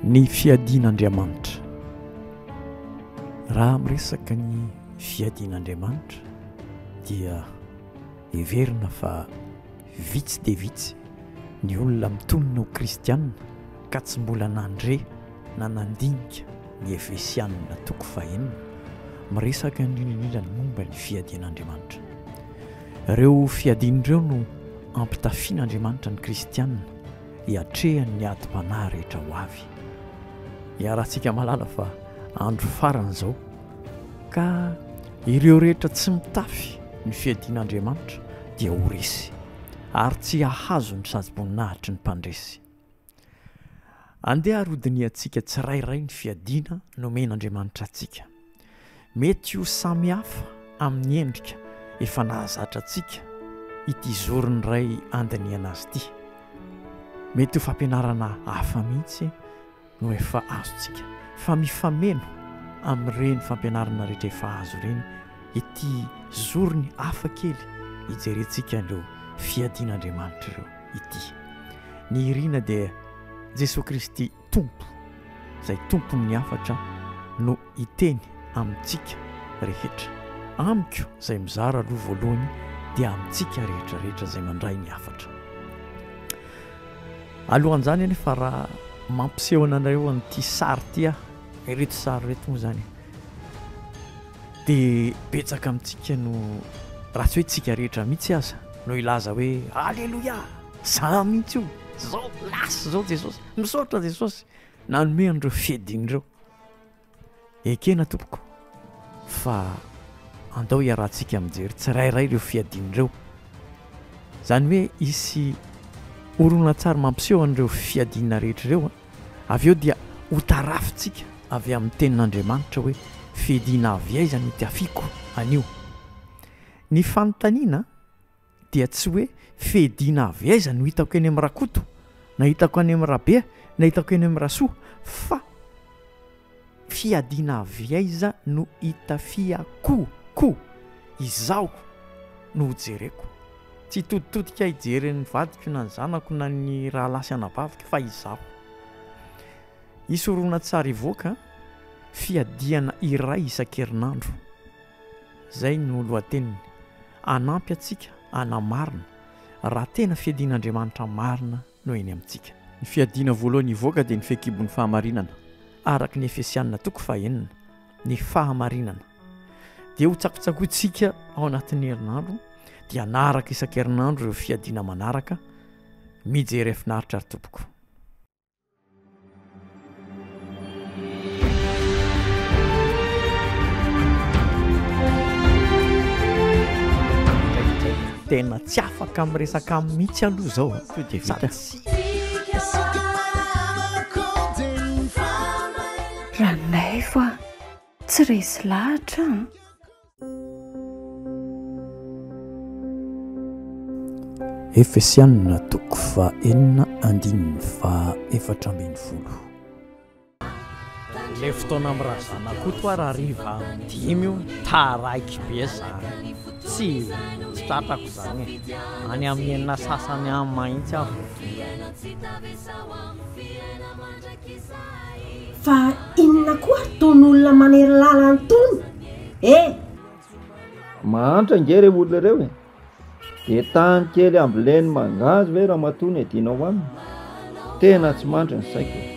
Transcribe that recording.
ny fiadian'andriamanitra raha miresaka ny fiadian'andriamanitra dia heverina fa Vitsy dia vitsy ny olona mitonona ho kristiana ka tsy mbola nandre na nandinika ny Efesianina toko fahenina, miresaka indrindra indrindra ny momba ny fiadian'Andriamanitra. Ireo fiadiany ireo no ampitafian'Andriamanitra ny kristiana hiatrehan'ny adim-panahy rehetra ho avy. Iarahantsika mahalala fa andro farany izao. Ka ireo rehetra tsy mitafy ny fiadian'Andriamanitra dia ho resy, ary tsy hahazo ny sazi-boninahitry ny mpandresy. Andeha ary hodinihantsika tsirairay ny fiadiana nomen'Andriamanitra antsika. Mety ho samy hafa amin'ny endrika efa nahazatra antsika ity zoron'ny Ray handinihana azy ity. Mety ho fampianarana hafa mihitsy. no efa azontsika fa mifameno amin'ireny fampianarana rehetra efa azo ireny ity zorony hafa kely hijerentsika an'ireo fiadian'Andriamanitra ireo ity. Ny irina dia Jesoa Kristy Tompo izay Tompon'ny hafatra no hiteny amintsika rehetra. Amiko izay mizara aloha voalohany dia amintsika rehetra rehetra izay mandray ny hafatra. Alohan'izany anefa raha mampiseho anareo an'ity sary ity aho, ireto sary ireto moa izany dia betsaka amintsika no raha tsy hoe tsika rehetra mihitsy aza no hilaza hoe aleloia za mihitsy io zao lasy zao Jesosy misaotra Jesosy nanome an'ireo fediny ireo. Ekena tompoko fa andao hiarahantsika mijery tsirairay ireo fiadiany ireo. Izany hoe hisy horonantsary mampiseho an'ireo fiadiana rehetra ireo. Avy eo dia hotarafintsika avy amin'ny tenin'Andriamanitra hoe fiadiana avy aiza no tiafiako anio. Ny fanontaniana dia tsy hoe fediana avy aiza no hitako eny amin'ny rakoto na hitako any amin'ny rabea na hitako eny amin'ny rasoa fa fiadiana avy aiza no hitafiako ko izaho no hojereko tsy hitoditodika hijery ny vadiko na ny zanako na ny rahalahy sy anabaviko fa izaho hisy horonantsary hivoaka fiadiana iray isan-kerinandro izay no lohateniny Hanampy antsika hanamarina raha tena fiadian'Andriamanitra marina no eny amintsika. Ny fiadiana voalohany hivoaka dia ny fehikibon'ny fahamarinana, araka ny Efesianina toko fahenina, ny fahamarinana. Dia hotsakotsakointsika ao anatin'ny herinandro, dia hanaraka isan-kerinandro ireo fiadiana manaraka, mijery finaritra ry tompoko. tena tsy afaka amin'ny resaka amin'ny mihitsy aloha zao to de vita ranaivo a tsy resy lahatra a Efesiana toko fahenina andininy faha efatra ambin'ny folo. Ilay fotoana amin'ny razanakoto ary hariva dimy io taraiky be izany tsy tsy tratrako izany e any amin'ny enina sasany any mahitsy aho vao tonga Fa inona koa ary tony olona manery lalany tony eh! Mahantra ange reo olona reo e! De tany kely ambileny mangahazo ve ramatoa no edinao aminy? Tena tsy mandry ny saiko e!